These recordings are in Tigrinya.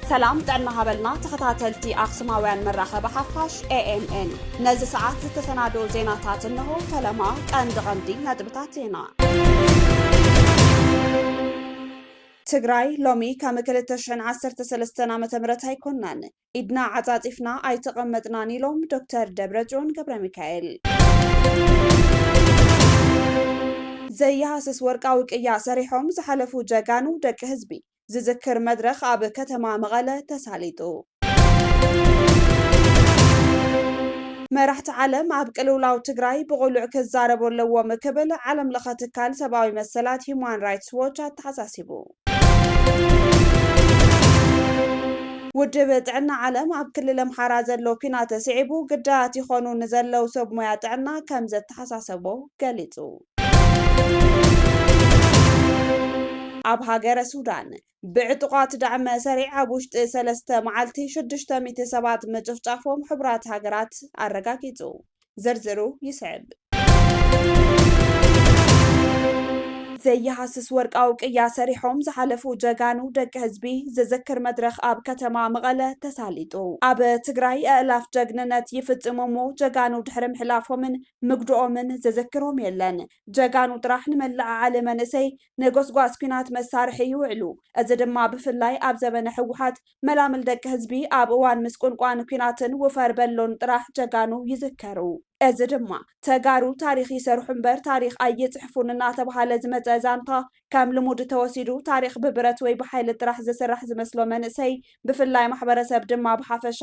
ሰላም ጥዕና ሃበልና ተኸታተልቲ ኣኽሱማውያን መራኸቢ ሓፋሽ ኤኤምኤን ነዚ ሰዓት ዝተሰናደኦ ዜናታት እንሆ ፈለማ ቀንዲ ቀንዲ ነጥብታት ዜና ትግራይ ሎሚ ከም 2013 ዓ ም ኣይኮናን ኢድና ዓፃፂፍና ኣይተቐመጥናን ኢሎም ዶክተር ደብረፅዮን ገብረሚካኤል። ዘይሃስስ ወርቃዊ ቅያ ሰሪሖም ዝሓለፉ ጀጋኑ ደቂ ህዝቢ ዝዝክር መድረኽ ኣብ ከተማ መቐለ ተሳሊጡ። መራሕቲ ዓለም ኣብ ቅልውላው ትግራይ ብቕሉዕ ክዛረቡ ኣለዎም ክብል ዓለምለኸ ትካል ሰብኣዊ መሰላት ሂዩማን ራይትስ ዎች ኣተሓሳሲቡ። ውድብ ጥዕና ዓለም ኣብ ክልል ኣምሓራ ዘሎ ኲናት ስዒቡ ግዳያት ይኾኑ ንዘለው ሰብ ሞያ ጥዕና ከም ዘተሓሳሰቦ ገሊጹ። ኣብ ሃገረ ሱዳን ብዕጡቓት ዳዕመ ሰሪዕ ኣብ ውሽጢ ሰለስተ መዓልቲ ሽዱሽተ ሚእቲ ሰባት ምጭፍጫፎም ሕቡራት ሃገራት ኣረጋጊጹ። ዝርዝሩ ይስዕብ። ዘይሃስስ ወርቃዊ ቅያ ሰሪሖም ዝሓለፉ ጀጋኑ ደቂ ህዝቢ ዝዝክር መድረኽ ኣብ ከተማ መቐለ ተሳሊጡ። ኣብ ትግራይ ኣእላፍ ጀግንነት ይፍፅሙ እሞ ጀጋኑ ድሕሪ ምሕላፎምን ምግድኦምን ዝዝክሮም የለን። ጀጋኑ ጥራሕ ንመለዓዓሊ መንእሰይ ንጎስጓስ ኲናት መሳርሒ ይውዕሉ። እዚ ድማ ብፍላይ ኣብ ዘበነ ህወሓት መላምል ደቂ ህዝቢ ኣብ እዋን ምስቁንቋን ኩናትን ውፈር በሎን ጥራሕ ጀጋኑ ይዝከሩ። እዚ ድማ ተጋሩ ታሪኽ ይሰርሑ እምበር ታሪኽ ኣይፅሕፉን እናተብሃለ ዝመፀ ዛንታ ከም ልሙድ ተወሲዱ ታሪኽ ብብረት ወይ ብሓይሊ ጥራሕ ዝስራሕ ዝመስሎ መንእሰይ ብፍላይ ማሕበረሰብ ድማ ብሓፈሻ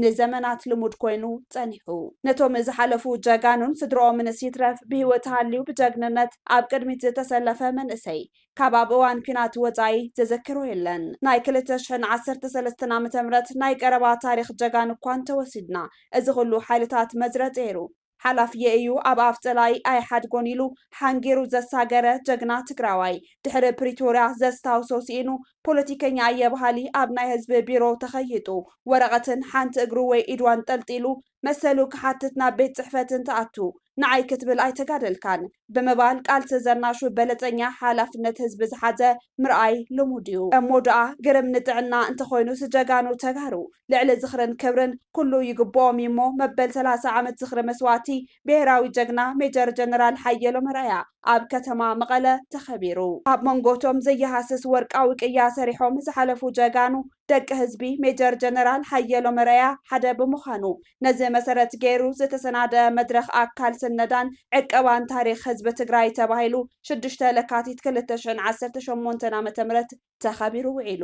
ንዘመናት ልሙድ ኮይኑ ፀኒሑ። ነቶም ዝሓለፉ ጀጋኑን ስድርኦምንስ ይትረፍ ብሂወት ሃልዩ ብጀግንነት ኣብ ቅድሚት ዝተሰለፈ መንእሰይ ካብ ኣብ እዋን ኲናት ወጻኢ ዘዘክሮ የለን። ናይ ክልተ ሽሕን ዓሰርተ ሰለስተን ዓመተ ምህረት ናይ ቀረባ ታሪኽ ጀጋኑ እኳ እንተወሲድና፣ እዚ ኩሉ ሓይልታት መዝረ ጸይሩ፣ ሓላፊየይ እዩ ኣብ ኣፍ ጸላኢ ኣይሓድጎን ኢሉ ሓንጊሩ ዘሳገረ ጀግና ትግራዋይ፣ ድሕሪ ፕሪቶርያ ዘስታውሶ ስኢኑ፣ ፖለቲከኛ እየ በሃሊ ኣብ ናይ ህዝቢ ቢሮ ተኸይጡ፣ ወረቐትን ሓንቲ እግሩ ወይ ኢዱ ኣንጠልጢሉ፣ መሰሉ ክሓትት ናብ ቤት ጽሕፈት እንትኣቱ ንዓይ ክትብል ኣይተጋደልካን ብምባል ቃልሲ ዘናሹ በለጸኛ ሓላፍነት ህዝቢ ዝሓዘ ምርኣይ ልሙድ እዩ። እሞ ድኣ ግርም ንጥዕና እንተኾይኑስ ጀጋኑ ተጋሩ ልዕሊ ዝኽርን ክብርን ኩሉ ይግብኦም እዩሞ መበል ሰላሳ ዓመት ዝኽሪ መስዋእቲ ብሄራዊ ጀግና ሜጀር ጀነራል ሓየሎም ኣርኣያ ኣብ ከተማ መቐለ ተኸቢሩ። ኣብ መንጎ እቶም ዘይሃስስ ወርቃዊ ቅያ ሰሪሖም ዝሓለፉ ጀጋኑ ደቂ ህዝቢ ሜጀር ጀነራል ሓየሎም ኣርኣያ ሓደ ብምዃኑ፣ ነዚ መሰረት ገይሩ ዝተሰናደኣ መድረኽ ኣካል ስነዳን ዕቀባን ታሪኽ ህዝቢ ትግራይ ተባሂሉ ሽዱሽተ ለካቲት ክልተ ሽሕን ዓሰርተ ሸሞንተን ዓመተ ምህረት ተኸቢሩ ውዒሉ።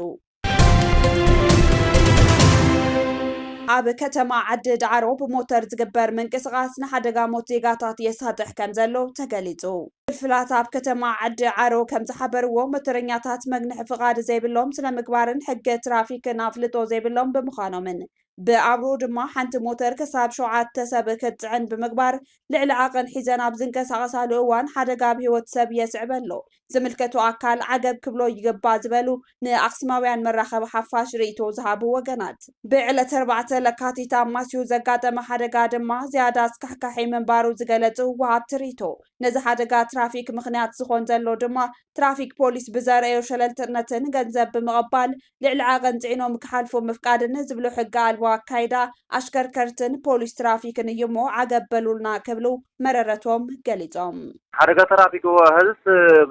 ኣብ ከተማ ዓዲ ዳዕሮ ብሞተር ዝግበር ምንቅስቓስ ንሓደጋ ሞት ዜጋታት የሳጥሕ ከምዘሎ ተገሊፁ። ክፍላት ኣብ ከተማ ዓዲ ዓሮ ከምዝሓበርዎ፣ ሞተረኛታት መግንሒ ፍቓድ ዘይብሎም፣ ስነ-ምግባርን ሕገ ትራፊክን ኣፍልጦ ዘይብሎም ብምዃኖምን ብኣብርኡ ድማ ሓንቲ ሞተር ክሳብ ሸውዓተ ሰብ ክትጽዕን ብምግባር ልዕሊ ዓቐን ሒዘን ኣብ ዝንቀሳቐሳሉ እዋን ሓደጋ ኣብ ህይወት ሰብ የስዕብ'ሎ ዝምልከቶ ኣካል ዓገብ ክብሎ ይግባእ ዝበሉ ንኣክሱማውያን መራኸቢ ሓፋሽ ርእይቶ ዝሃቡ ወገናት፣ ብዕለት ኣርባዕተ ለካቲት ኣብ ማስዩ ዘጋጠመ ሓደጋ ድማ ዝያዳ ኣስካሕካሒ ምንባሩ ዝገለጹ ወሃብቲ ርእይቶ፣ ነዚ ሓደጋ ትራፊክ ምኽንያት ዝኾን ዘሎ ድማ ትራፊክ ፖሊስ ብዘርእዮ ሸለልትነትን ገንዘብ ብምቕባል ልዕሊ ዓቐን ጽዒኖም ክሓልፉ ምፍቃድን ዝብሉ ሕገ ኣልቦ ኣካይዳ ኣሽከርከርትን ፖሊስ ትራፊክን እዩ'ሞ ዓገብ በሉልና ክብሉ መረረቶም ገሊጾም። ሓደጋ ተራፊክ እወ ሀዝስ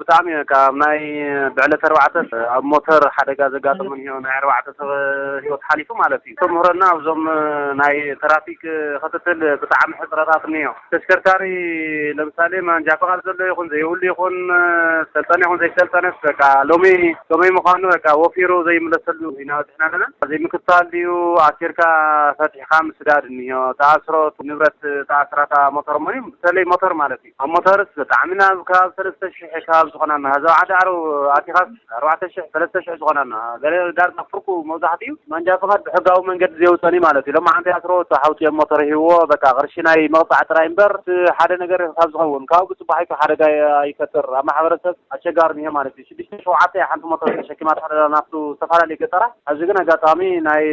ብጣዕሚ እየ በቃ ኣብ ናይ ብዕለት ኣርባዕተ ኣብ ሞተር ሓደጋ ዘጋጠመን እዮ ናይ ኣርባዕተ ሰብ ሂወት ሓሊፉ ማለት እዩ ተምህረና ኣብዞም ናይ ተራፊክ ክትትል ብጣዕሚ ሕፅረታት እኒኦ ተሽከርካሪ ለምሳሌ ማንጃ ፍቃድ ዘሎ ይኹን ዘይብሉ ይኹን ሰልጠነ ይኹን ዘይሰልጠነስ በቃ ሎሚ ከመይ ምዃኑ በቃ ወፊሩ ዘይምለሰሉ ኢና በፂሕና ኣለና ዘይምክታል ድዩ ኣሲርካ ፈትሒ ኢካ ምስዳድ እኒሆ ትኣስሮ ንብረት ትኣስራ እታ ሞቶር እሞ ብተለይ ሞቶር ማለት እዩ ኣብ ሞቶርስ ብጣዕሚ ናብ ከባቢ ሰለስተ ሽሕ ከባቢ ዝኮና እኒሆ እዛ ዓዲ ዓረብ ኣቲካስ ኣርባዕተ ሽሕ ሰለስተ ሽሕ ዝኮና እኒሆ ገለ ዳርጋ ፍርቁ መብዛሕቲኡ ማንጃ ፍቃድ ብሕጋዊ መንገዲ ዘየውፀን እዩ ማለት እዩ ሎማዓንቲ ይኣስርዎ እቲ ሓውቲ ኣብ ሞቶር ሂብዎ በቃ ቅርሺ ናይ መቅፃዕ ጥራይ እምበር እቲ ሓደ ነገር ካብ ዝከውን ካብኡ ብፅባሒቱ ሓደጋ ኣይፈጥር ኣብ ማሕበረሰብ ኣሸጋሪ እኒሆ ማለት እዩ። ሽዱሽተ ሸውዓተ ሓንቲ ሞተር ተሸኪማ ትኸደላ ናብቱ ዝተፈላለዩ ገጠራት ሐዚ ግን ኣጋጣሚ ናይ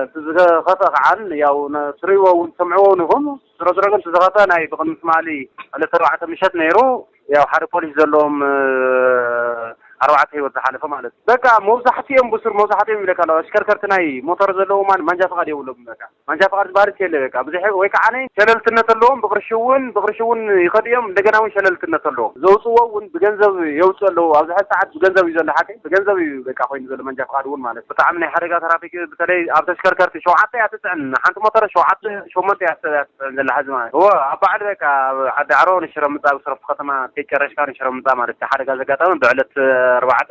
እቲ ዝኸፈ ከዓን ያው ትሪእዎ እውን ትሰምዕዎ እውን ኢኹም ዝሮዝሮ ግን እቲ ዝኸፈ ናይ ብቕድሚ ትማሊ ዕለት ኣርባዕተ ምሸት ነይሩ ያው ሓደ ፖሊስ ዘለዎም ኣርባዕተ ህይወት ዝሓለፈ ማለት እዩ በቃ መብዛሕቲኦም ብሱር መብዛሕቲኦም ይብለካ ኣለኹ ኣሽከርከርቲ ናይ ሞተር ዘለዎም ማንጃ ፍቓድ የብሎምን በቃ ማንሻ ፍቃድ ዝባሃል ሲ የለ በቃ ብዙሕ ወይ ካዓነ ሸለልትነት ኣለዎም ብቅርሺ ውን ብቅርሺ ውን ይከዱ እዮም እንደገና ውን ሸለልትነት ኣለዎም ዘውጽዎ ውን ብገንዘብ የውጽኡ ኣለዉ ኣብዚ ሐዚ ሳዓት ብገንዘብ እዩ ዘሎ ሓቀይ ብገንዘብ እዩ በቃ ኮይኑ ዘሎ መንጃ ፍቃድ ውን ማለት ብጣዕሚ ናይ ሓደጋ ተራፊክ ብተለይ ኣብ ተሽከርከርቲ ሸውዓተ እያ ትጽዕን ሓንቲ ሞተረ ሸውዓተ ሸሞንተ እያ ሰብ እያ ትጽዕን ዘላ ሐዚ ማለት እወ ኣብ ባዓል በቃ ኣብ ዓዲ ኣዕሮ ንሽረ ምጻእ ብስረፍቱ ከተማ ከይ ጨረሽካ ንሽረ ምጻእ ማለት እቲ ሓደጋ ዘጋጠመ ብዕለት ኣርባዕተ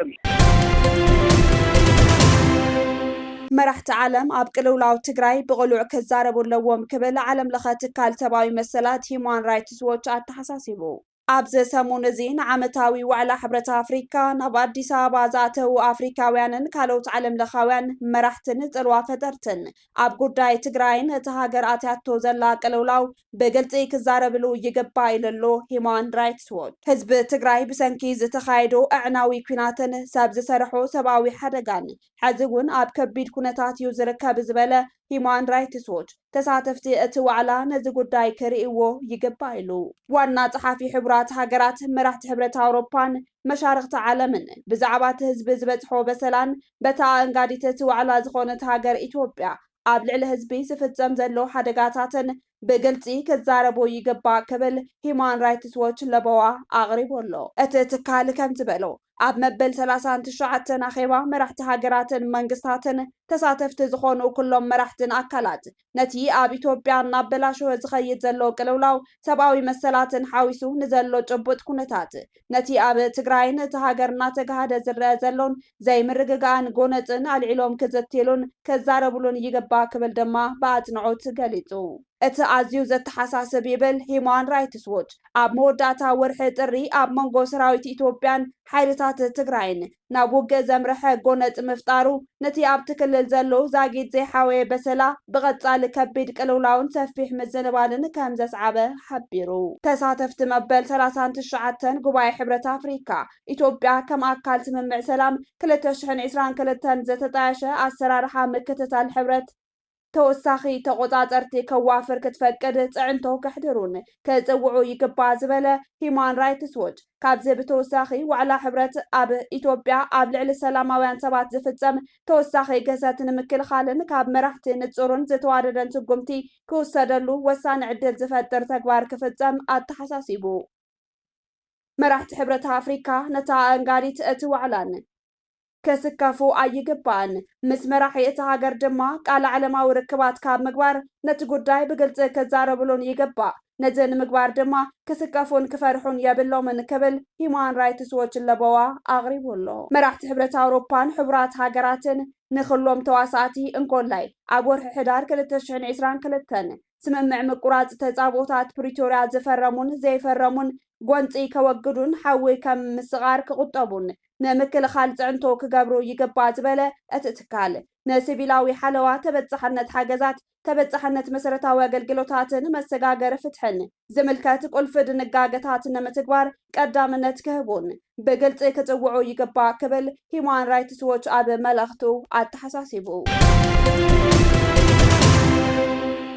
መራሕቲ ዓለም ኣብ ቅልውላው ትግራይ ብቕሉዕ ክዛረቡ ኣለዎም ክብል ዓለም ለኸ ትካል ሰብኣዊ መሰላት ሂዩማን ራይትስ ዎች ኣተሓሳሲቡ። ኣብዚ ሰሙን እዚ ንዓመታዊ ዋዕላ ሕብረት ኣፍሪካ ናብ ኣዲስ ኣበባ ዝኣተው ኣፍሪካውያንን ካልኦት ዓለም ለኻውያን መራሕትን ፅልዋ ፈጠርትን ኣብ ጉዳይ ትግራይን እታ ሃገር ኣትያቶ ዘላ ቅልውላው ብግልፂ ክዛረብሉ ይግባእ ኢሉ ኣሎ ሂዩማን ራይትስ ዎች። ህዝቢ ትግራይ ብሰንኪ ዝተኻየዶ ኣዕናዊ ኲናትን ሰብ ዝሰርሖ ሰብኣዊ ሓደጋን ሐዚ እውን ኣብ ከቢድ ኩነታት እዩ ዝርከብ ዝበለ ሂዩማን ራይትስ ዎች፣ ተሳተፍቲ እቲ ዋዕላ ነዚ ጉዳይ ክርእይዎ ይግባእ ኢሉ። ዋና ፀሓፊ ሕቡራት ሃገራት፣ መራሕቲ ሕብረት ኣውሮፓን መሻርኽቲ ዓለምን ብዛዕባ እቲ ህዝቢ ዝበፅሖ በሰላን በታ ኣኣንጋዲት እቲ ዋዕላ ዝኾነት ሃገር ኢትዮጵያ ኣብ ልዕሊ ህዝቢ ዝፍፀም ዘሎ ሓደጋታትን ብግልፂ ክዛረቡ ይግባእ ክብል ሂዩማን ራይትስ ዎች ለበዋ ኣቕሪቡ ኣሎ። እቲ ትካል ከምዝበሎ፣ ኣብ መበል ሰላሳን ትሽዓተን ኣኼባ መራሕቲ ሃገራትን መንግስታትን ተሳተፍቲ ዝኾኑ ኩሎም መራሕትን ኣካላት ነቲ ኣብ ኢትዮጵያ እናበላሸወ ዝኸይድ ዘሎ ቅልውላው ሰብኣዊ መሰላትን ሓዊሱ ንዘሎ ጭቡጥ ኩነታት ነቲ ኣብ ትግራይን እታ ሃገር እናተጋህደ ዝረኣ ዘሎን ዘይምርግጋእን ጎነጽን ኣልዒሎም ክዝትይሉን ክዛረብሉን ይግባእ ክብል ድማ ብኣጽንዖት ገሊጹ። እቲ ኣዝዩ ዘተሓሳስብ ይብል ሂዩማን ራይትስ ዎች፣ ኣብ መወዳእታ ወርሒ ጥሪ ኣብ መንጎ ሰራዊት ኢትዮጵያን ሓይልታት ትግራይን ናብ ውግእ ዘምረሐ ጎነጽ ምፍጣሩ፣ ነቲ ኣብቲ ክልል ዘሎ ዛጊት ዘይሓወየ በሰላ፣ ብቐጻሊ ከቢድ ቅልውላውን ሰፊሕ ምዝንባልን ከም ዘስዓበ ሓቢሩ። ተሳተፍቲ መበል ሰላሳን ትሽዓተን ጉባኤ ሕብረት ኣፍሪካ፣ ኢትዮጵያ ከም ኣካል ስምምዕ ሰላም ክልተ ሽሕን ዕስራን ክልተን ዝተጣየሸ ኣሰራርሓ ምክትታል ሕብረት፣ ተወሳኺ ተቖፃፀርቲ ከዋፍር ክትፈቅድ ፅዕንቶ ከሕድሩን ክፅውዑ ይግባእ ዝበለ ሂዩማን ራይትስ ዎች፣ ካብዚ ብተወሳኺ ዋዕላ ሕብረት ኣብ ኢትዮጵያ ኣብ ልዕሊ ሰላማውያን ሰባት ዝፍፀም ተወሳኺ ግህሰት ንምክልኻልን ካብ መራሕቲ ንፁርን ዝተዋደደን ስጉምቲ ክውሰደሉ ወሳኒ ዕድል ዝፈጥር ተግባር ክፍፀም ኣተሓሳሲቡ። መራሕቲ ሕብረት ኣፍሪካ ነታ ኣእንጋዲት እቲ ዋዕላን፣ ክስከፉ ኣይግባእን፣ ምስ መራሒ እታ ሃገር ድማ ቃለ ዓለማዊ ርክባት ካብ ምግባር ነቲ ጉዳይ ብግልፂ ክዛረብሉን ይግባእ፣ ነዚ ንምግባር ድማ ክስከፉን ክፈርሑን የብሎምን ክብል ሂዩማን ራይትስ ዎች ለበዋ ኣቕሪቡ ኣሎ። መራሕቲ ሕብረት ኣውሮፓን ሕቡራት ሃገራትን ንክሎም ተዋሳእቲ እንኮላይ ኣብ ወርሒ ሕዳር ክልተ ሽሕን ዒስራን ክልተን ስምምዕ ምቁራፅ ተፃብኦታት ፕሪቶርያ ዝፈረሙን ዘይፈረሙን ጎንፂ ከወግዱን ሓዊ ከም ምስቓር ክቑጠቡን ንምክልኻል ፅዕንቶ ክገብሩ ይግባእ ዝበለ እቲ ትካል፣ ንሲቪላዊ ሓለዋ፣ ተበፃሕነት ሓገዛት፣ ተበፃሕነት መሰረታዊ ኣገልግሎታትን መሰጋገሪ ፍትሕን ዝምልከት ቁልፊ ድንጋገታት ንምትግባር ቀዳምነት ክህቡን ብግልፂ ክፅውዑ ይግባእ ክብል ሂዩማን ራይትስ ዎች ኣብ መልእኽቱ ኣተሓሳሲቡ።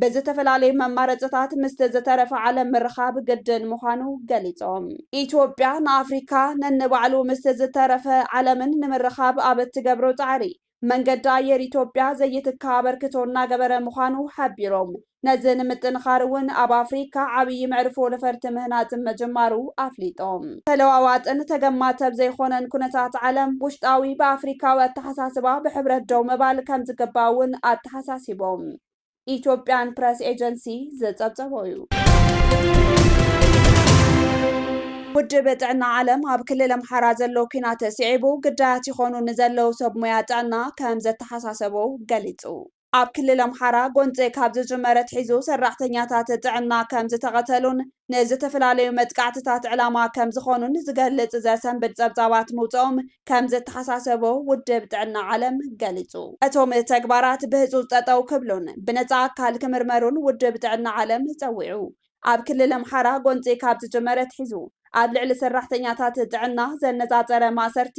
ብዝተፈላለዩ መማረፅታት ምስቲ ዝተረፈ ዓለም ምርኻብ ግድን ምዃኑ ገሊፆም። ኢትዮጵያ ንኣፍሪካ ነንባዕሉ ምስቲ ዝተረፈ ዓለምን ንምርኻብ ኣብ እትገብሮ ፃዕሪ መንገዲ ኣየር ኢትዮጵያ ዘይትካእ ኣበርክቶ እናገበረ ምዃኑ ሓቢሮም። ነዚ ንምጥንኻር እውን ኣብ ኣፍሪካ ዓብዪ መዕርፎ ነፈርቲ ምህናፅ ምጅማሩ ኣፍሊጦም። ተለዋዋጥን ተገማተብ ዘይኾነን ኩነታት ዓለም ውሽጣዊ ብኣፍሪካዊ ኣተሓሳስባ ብሕብረት ደው ምባል ከምዝግባእ እውን ኣተሓሳሲቦም። ኢትዮጵያን ፕረስ ኤጀንሲ ዝጸብጸቦ እዩ። ውድብ ጥዕና ዓለም ኣብ ክልል ኣምሓራ ዘሎ ኲናት ስዒቡ ግዳያት ይኾኑ ንዘለዉ ሰብ ሙያ ጥዕና ከም ዘተሓሳሰቦ ገሊጹ። ኣብ ክልል ኣምሓራ ጎንጺ ካብ ዝጅመር ኣትሒዙ ሰራሕተኛታት ጥዕና ከም ዝተቐተሉን ንዝተፈላለዩ መጥቃዕትታት ዕላማ ከም ዝኾኑን ዝገልጽ ዘሰንብድ ጸብጻባት ምውጸኦም ከም ዘተሓሳሰቦ ውድብ ጥዕና ዓለም ገሊጹ። እቶም ተግባራት ብህጹጽ ጠጠው ክብሉን ብነጻ ኣካል ክምርመሩን ውድብ ጥዕና ዓለም ጸዊዑ። ኣብ ክልል ኣምሓራ ጎንጺ ካብ ዝጅመር ኣትሒዙ ኣብ ልዕሊ ሰራሕተኛታት ጥዕና ዘነጻጸረ ማእሰርቲ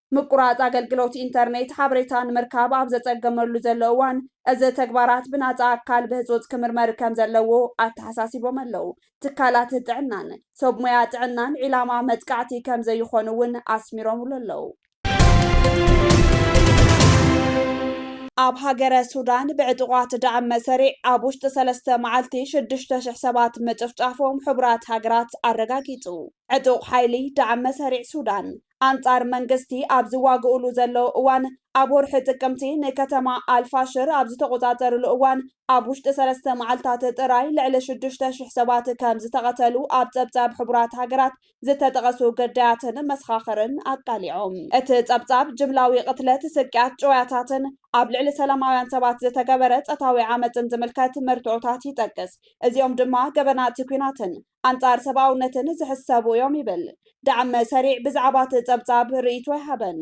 ምቁራጽ ኣገልግሎት ኢንተርኔት ሓበሬታ ንምርካብ ኣብ ዘጸገመሉ ዘሎ እዋን፣ እዚ ተግባራት ብናጻ ኣካል ብህጹጽ ክምርመር ከም ዘለዎ ኣተሓሳሲቦም ኣለው። ትካላት ጥዕናን ሰብ ሞያ ጥዕናን ዒላማ መጥቃዕቲ ከም ዘይኾኑ እውን ኣስሚሮምሉ ኣለው። ኣብ ሃገረ ሱዳን ብዕጡቓት ዳዕመ ሰሪዕ ኣብ ውሽጢ ሰለስተ መዓልቲ ሽዱሽተ ሽሕ ሰባት ምጭፍጫፎም ሕቡራት ሃገራት ኣረጋጊጹ። ዕጡቕ ሓይሊ ዳዕመ ሰሪዕ ሱዳን ኣንጻር መንግስቲ ኣብ ዝዋግኡሉ ዘለዉ እዋን፣ ኣብ ወርሒ ጥቅምቲ ንከተማ ኣል-ፋሽር ኣብ ዝተቖጻጸሩሉ እዋን፣ ኣብ ውሽጢ ሰለስተ መዓልታት ጥራይ ልዕሊ ሽዱሽተ ሽሕ ሰባት ከም ዝተቐተሉ ኣብ ጸብጻብ ሕቡራት ሃገራት ዝተጠቐሱ ግዳያትን መሰኻኽርን ኣቃሊዖም። እቲ ጸብጻብ፣ ጅምላዊ ቅትለት፣ ስቅያት፣ ጭውያታትን ኣብ ልዕሊ ሰላማውያን ሰባት ዝተገበረ ጸታዊ ዓመጽን ዝምልከት መርትዖታት ይጠቅስ፣ እዚኦም ድማ ገበናት ኲናትን ኣንጻር ሰብኣውነትን ዝሕሰቡ እዮም ይብል ዳዕመ ሰሪዕ ብዛዕባ እቲ ጸብጻብ ርእይቶ ኣይሃበን።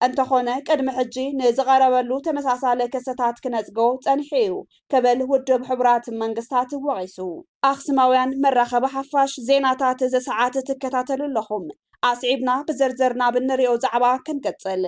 እንተኾነ ቅድሚ ሕጂ ንዝቐረበሉ ተመሳሳሊ ክስታት ክነጽጎ ጸኒሑ እዩ ክብል ውድብ ሕቡራት መንግስታት ወቒሱ። ኣኽሱማውያን መራኸቢ ሓፋሽ፣ ዜናታት እዚ ሰዓት ትከታተሉ ኣለኹም። ኣስዒብና ብዝርዝር ናብ እንሪኦ ዛዕባ ክንቅጽል።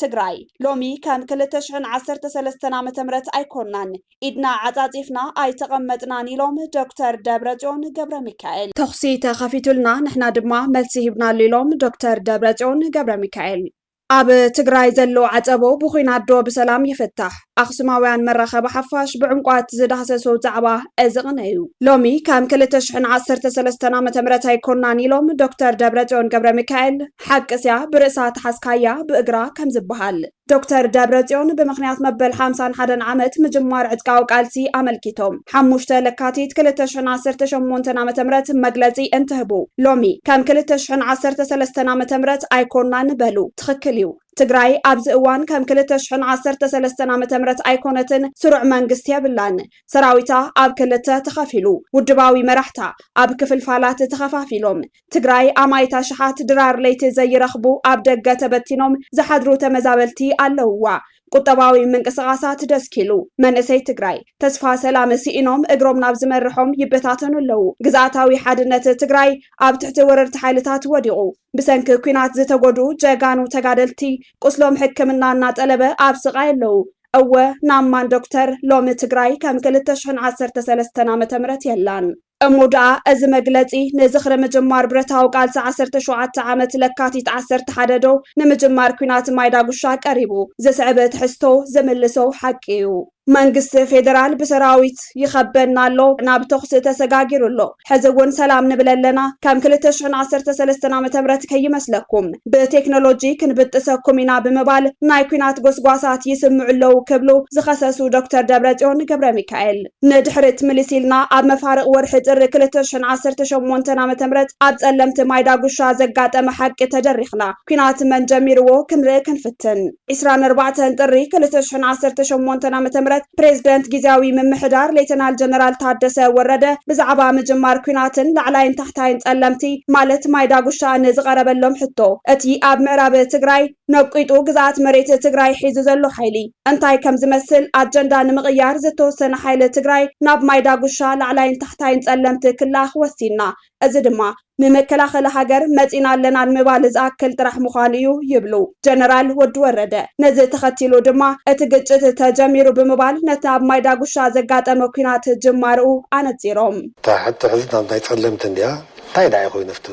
ትግራይ ሎሚ ከም ክልተ ሽሕን ዓሰርተ ሰለስተን ዓመተ ምህረት ኣይኮናን ኢድና ዓፃፂፍና ኣይተቐመጥናን ኢሎም ዶክተር ደብረፅዮን ገብረሚካኤል። ተኹሲ ተኸፊቱልና ንሕና ድማ መልሲ ሂብናሉ ኢሎም ዶክተር ደብረፅዮን ገብረሚካኤል። ኣብ ትግራይ ዘሎ ዓፀቦ ብኹናት ዶ ብሰላም ይፍታሕ? ኣኽሱማውያን መራኸቢ ሓፋሽ ብዕምቋት ዝዳህሰሶ ዛዕባ እዚ ቕነ እዩ። ሎሚ ከም ክልተ ሽሕን ዓሰርተ ሰለስተን ዓ ም ኣይኮናን ኢሎም ዶክተር ደብረፅዮን ገብረሚካኤል። ሓቂ ስያ ብርእሳ ተሓዝካያ ብእግራ ከምዝበሃል። ዶክተር ደብረፅዮን ብምኽንያት መበል ሓምሳን ሓደን ዓመት ምጅማር ዕጥቃዊ ቃልሲ ኣመልኪቶም ሓሙሽተ ለካቲት ክልተ ሽሕን ዓሰርተ ሸሞንተን ዓመተ ምህረት መግለፂ እንትህቡ ሎሚ ከም ክልተ ሽሕን ዓሰርተ ሰለስተን ዓመተ ምህረት ኣይኮናን በሉ። ትኽክል እዩ። ትግራይ ኣብዚ እዋን ከም ክልተ ሽሕን ዓሰርተ ሰለስተን ዓመተ ምህረት ኣይኮነትን። ስሩዕ መንግስቲ የብላን። ሰራዊታ ኣብ ክልተ ተኸፊሉ፣ ውድባዊ መራሕታ ኣብ ክፍልፋላት ተኸፋፊሎም፣ ትግራይ ኣማኢት ኣሽሓት ድራር ለይቲ ዘይረኽቡ ኣብ ደገ ተበቲኖም ዝሓድሩ ተመዛበልቲ ኣለውዋ። ቁጠባዊ ምንቅስቓሳት ደስኪሉ። መንእሰይ ትግራይ ተስፋ ሰላም ስኢኖም እግሮም ናብ ዝመርሖም ይበታተኑ ኣለዉ። ግዝኣታዊ ሓድነት ትግራይ ኣብ ትሕቲ ወረርቲ ሓይልታት ወዲቑ። ብሰንኪ ኲናት ዝተጎድኡ ጀጋኑ ተጋደልቲ ቁስሎም ሕክምና እናጠለበ ኣብ ስቓይ ኣለዉ። እወ ናብ ማን ዶክተር? ሎሚ ትግራይ ከም ክልተ ሽሕን ዓሰርተ ሰለስተን ዓመተ ምህረት የላን። እሞ ደኣ እዚ መግለጺ ንዝኽሪ ምጅማር ብረታዊ ቃልሲ ዓሰርተ ሸውዓተ ዓመት ለካቲት ዓሰርተ ሓደ ዶ ንምጅማር ኲናት ማይ ዳጉሻ ቀሪቡ ዝስዕብ ትሕዝቶ ዝምልሶ ሓቂ እዩ። መንግስቲ ፌደራል ብሰራዊት ይኸበና ኣሎ፣ ናብ ተኹሲ ተሰጋጊሩ ኣሎ፣ ሕዚ እውን ሰላም ንብል ኣለና፣ ከም ክልተ ሽሕን ዓሰርተ ሰለስተን ዓመተ ምህረት ከይመስለኩም ብቴክኖሎጂ ክንብጥሰኩም ኢና ብምባል ናይ ኲናት ጎስጓሳት ይስምዑ ኣለዉ ክብሉ ዝኸሰሱ ዶክተር ደብረጽዮን ገብረሚካኤል፣ ንድሕሪት ምልስ ኢልና ኣብ መፋርቕ ወርሒ ጥሪ ክልተ ሽሕን ዓሰርተ ሸሞንተን ዓመተ ምህረት ኣብ ጸለምቲ ማይ ዳጉሻ ዘጋጠመ ሓቂ ተደሪኽና ኩናት መን ጀሚርዎ ክንርኢ ክንፍትን። ዕስራን ኣርባዕተን ጥሪ ክልተ ሽሕን ዓሰርተ ሸሞንተን ዓመተ ምህረት ፕሬዝደንት ጊዝያዊ ምምሕዳር ሌተናል ጀነራል ታደሰ ወረደ ብዛዕባ ምጅማር ኩናትን ላዕላይን ታሕታይን ጸለምቲ ማለት ማይ ዳጉሻ ንዝቐረበሎም ሕቶ እቲ ኣብ ምዕራብ ትግራይ ነቂጡ ግዝኣት መሬት ትግራይ ሒዙ ዘሎ ሓይሊ እንታይ ከምዝመስል ኣጀንዳ ንምቕያር ዝተወሰነ ሓይሊ ትግራይ ናብ ማይ ዳጉሻ ላዕላይን ታሕታይን ፀለምቲ ክልኣኽ ወሲንና እዚ ድማ ንመከላኸሊ ሃገር መፂና ኣለና ንምባል ዝኣክል ጥራሕ ምዃኑ እዩ ይብሉ ጀነራል ወዲ ወረደ። ነዚ ተኸቲሉ ድማ እቲ ግጭት ተጀሚሩ ብምባል ነቲ ኣብ ማይ ዳጉሻ ዘጋጠመ ኲናት ጅማርኡ ኣነፂሮም። እታ ሕቶ ሕዚ ናብ ናይ ፀለምቲ እንድያ እንታይ ደኣ እዩ ኮይኑ ኣብቲ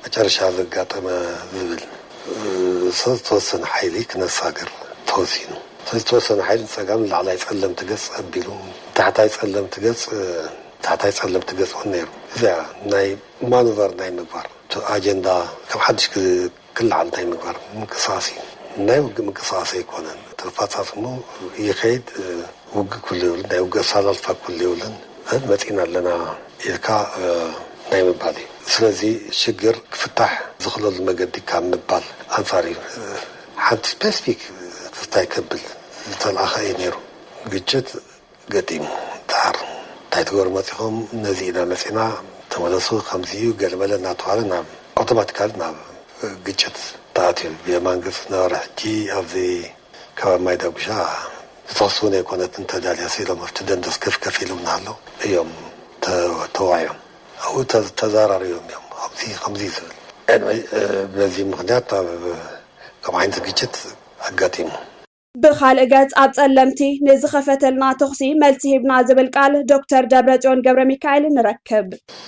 መጨረሻ ዘጋጠመ ዝብል ሰብ ዝተወሰነ ሓይሊ ክነሳግር ተወሲኑ። እቲ ዝተወሰነ ሓይሊ ንፀጋም ንላዕላይ ፀለምቲ ገፅ ኣቢሉ ንታሕታይ ፀለምቲ ገፅ ታሕታይ ፀለምቲ ገፅ እውን ነይሩ። እዚኣ ናይ ማኑቨር ናይ ምግባር እቲ ኣጀንዳ ከም ሓዱሽ ክለዓል ናይ ምግባር ምንቅስቓስ እዩ። ናይ ውግእ ምንቅስቓስ ኣይኮነን። እቲ ኣፈፃፅምኡ ይኸይድ። ውግእ ኩሉ የብሉን ናይ ውግእ ኣሰላልፋ ኩሉ የብሉን ግን መጺእና ኣለና ኢልካ ናይ ምባል እዩ ስለዚ ሽግር ክፍታሕ ዝኽለሉ መገዲ ካብ ምባል ኣንጻር እዩ ሓንቲ ስፔስፊክ እንታይ ከብል ዝተልኣኸ እዩ ነይሩ ግጭት ገጢሙ ደሓር እንታይ ትገብሩ መጺኹም ነዚ ኢና መጺእና ተመለሱ ከምዚ እዩ ገለመለ እናተባህለ ናብ ኣውቶማቲካሊ ናብ ግጭት ተኣትዩ ብየማን ግብጺ ዝነበረ ሕጂ ኣብዚ ከባቢ ማይ ዳጉሻ ዝተወሰኑ ኣይኮነትን ተዳልያሲ ኢሎም ኣብቲ ደንደስ ከፍ ከፍ ኢሎም እናሃለው እዮም ተዋዒዮም ኣብኡ ተዛራሪቦም እዮም ከምዚ ከምዚ ዝብል ቅንዒ በዚ ምኽንያት ናብ ከምኡ ዓይነት ግጭት ኣጋጢሙ። ብኻልእ ገፅ ኣብ ፀለምቲ ንዝኸፈተልና ተኹሲ መልሲ ሂብና ዝብል ቃል ዶክተር ደብረፅዮን ገብረሚካኤል ንረክብ።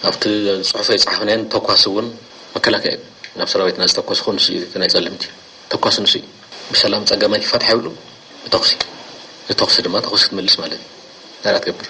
ኣብቲ ፅሑፍ ኣይፀሓፍናዮን ተኳሲ እውን መከላከያ እዩ ናብ ሰራዊትና ዝተኮሰ ንሱ እዩ እቲ ናይ ፀለምቲ ተኳሲ ንሱ እዩ ብሰላም ጸገማይ ክፈትሓ ይብሉ ብተኹሲ ንተኹሲ ድማ ተኹሲ ክትመልስ ማለት እዩ እንታይ ደኣ ትገብር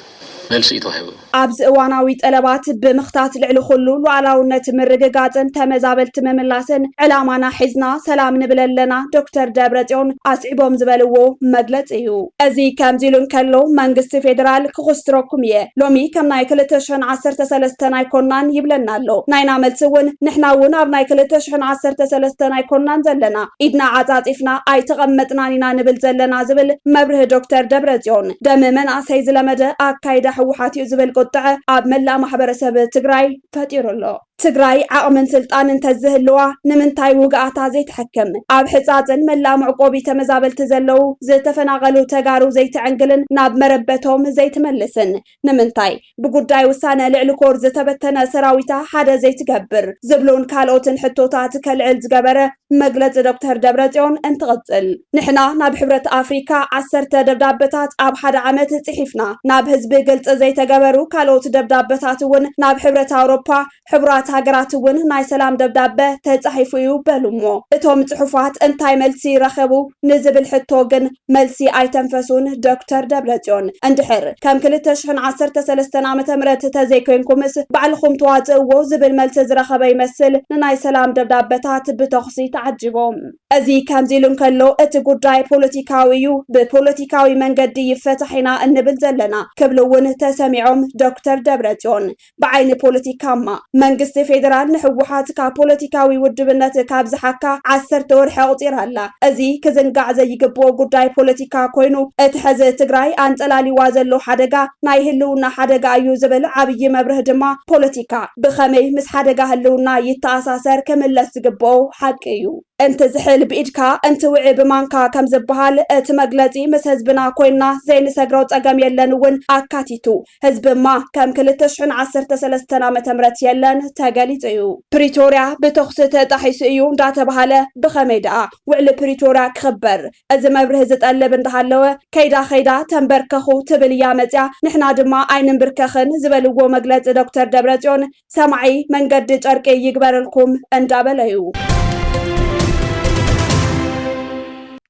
መልሲ እዩ ተዋሂቡ። ኣብዚ እዋናዊ ጠለባት ብምኽታት ልዕሊ ኹሉ ሉኣላውነት ምርግጋፅን ተመዛበልቲ ምምላስን ዕላማና ሒዝና ሰላም ንብል ኣለና ዶክተር ደብረፅዮን ኣስዒቦም ዝበልዎ መግለፂ እዩ። እዚ ከምዚ ኢሉ እንከሎ መንግስቲ ፌደራል ክኹስትረኩም እየ ሎሚ ከም ናይ ክልተ ሽሕን ዓሰርተ ሰለስተን ኣይኮናን ይብለና ኣሎ። ናይና መልሲ እውን ንሕና እውን ኣብ ናይ ክልተ ሽሕን ዓሰርተ ሰለስተን ኣይኮናን ዘለና ኢድና ዓፃፂፍና ኣይተቐመጥናን ኢና ንብል ዘለና ዝብል መብርሂ ዶክተር ደብረፅዮን ደም መናእሰይ ዝለመደ ኣካይዳ ህወሓት እዩ ዝብል ቁጠዐ ኣብ መላእ ማሕበረሰብ ትግራይ ፈጢሩ ኣሎ። ትግራይ ዓቕምን ስልጣን እንተዝህልዋ ንምንታይ ውግኣታ ዘይተሐክም? ኣብ ሕፃፅን መላእ መዕቆቢ ተመዛበልቲ ዘለዉ ዝተፈናቐሉ ተጋሩ ዘይትዕንግልን ናብ መረበቶም ዘይትመልስን? ንምንታይ ብጉዳይ ውሳነ ልዕሊ ኮር ዝተበተነ ሰራዊታ ሓደ ዘይትገብር? ዝብሉን ካልኦትን ሕቶታት ከልዕል ዝገበረ መግለፂ ዶክተር ደብረፅዮን እንትቕፅል፣ ንሕና ናብ ሕብረት ኣፍሪካ ዓሰርተ ደብዳበታት ኣብ ሓደ ዓመት ፅሒፍና፣ ናብ ህዝቢ ግልፂ ዘይተገበሩ ካልኦት ደብዳበታት እውን ናብ ሕብረት ኣውሮፓ፣ ሕቡራት ሃገራት እውን ናይ ሰላም ደብዳበ ተፃሒፉ እዩ በሉ። እሞ እቶም ፅሑፋት እንታይ መልሲ ረኸቡ ንዝብል ሕቶ ግን፣ መልሲ ኣይተንፈሱን ዶክተር ደብረጽዮን። እንድሕር ከም ክልተ ሽሕን ዓሰርተ ሰለስተን ዓመተ ምህረት ተዘይኮይንኩምስ ባዕልኹም ትዋጽእዎ ዝብል መልሲ ዝረኸበ ይመስል ንናይ ሰላም ደብዳበታት ብተኹሲ ተዓጂቡ። እዚ ከምዚ ኢሉ እንከሎ እቲ ጉዳይ ፖለቲካዊ እዩ፣ ብፖለቲካዊ መንገዲ ይፈታሕ ኢና እንብል ዘለና ክብሉ እውን ተሰሚዖም ዶክተር ደብረጽዮን። ብዓይኒ ፖለቲካማ፣ መንግስቲ ፌደራል ንህወሓት ካብ ፖለቲካዊ ውድብነት ካብ ዝሓካ ዓሰርተ ወርሒ ኣቑፂራ ኣላ። እዚ ክዝንጋዕ ዘይግብኦ ጉዳይ ፖለቲካ ኮይኑ እቲ ሕዚ ትግራይ ኣንፀላልይዋ ዘሎ ሓደጋ ናይ ህልውና ሓደጋ እዩ ዝብል ዓብዪ መብርህ ድማ ፖለቲካ ብኸመይ ምስ ሓደጋ ህልውና ይተኣሳሰር ክምለስ ዝግብኦ ሓቂ እዩ። እንትዝሕል ብኢድካ እንትውዒ ብማንካ ከምዝበሃል እቲ መግለፂ ምስ ህዝብና ኮይንና ዘይንሰግሮ ፀገም የለን እውን ኣካቲቱ ህዝቢማ ከም ክልተ ሽሕን ዓሰርተ ሰለስተን ዓመተ ምህረት የለን ተገሊፁ እዩ። ፕሪቶርያ ብተኹሲ ተጣሒሱ እዩ እንዳተብሃለ ብኸመይ ድኣ ውዕሊ ፕሪቶርያ ክኽበር? እዚ መብርሂ ዝጠልብ እንዳሃለወ ከይዳ ከይዳ ተምበርከኹ ትብል እያ መፂኣ ንሕና ድማ ኣይንምብርከኽን ዝበልዎ መግለፂ ዶክተር ደብረፅዮን ሰማዒ መንገዲ ጨርቂ ይግበረልኩም እንዳበለ እዩ።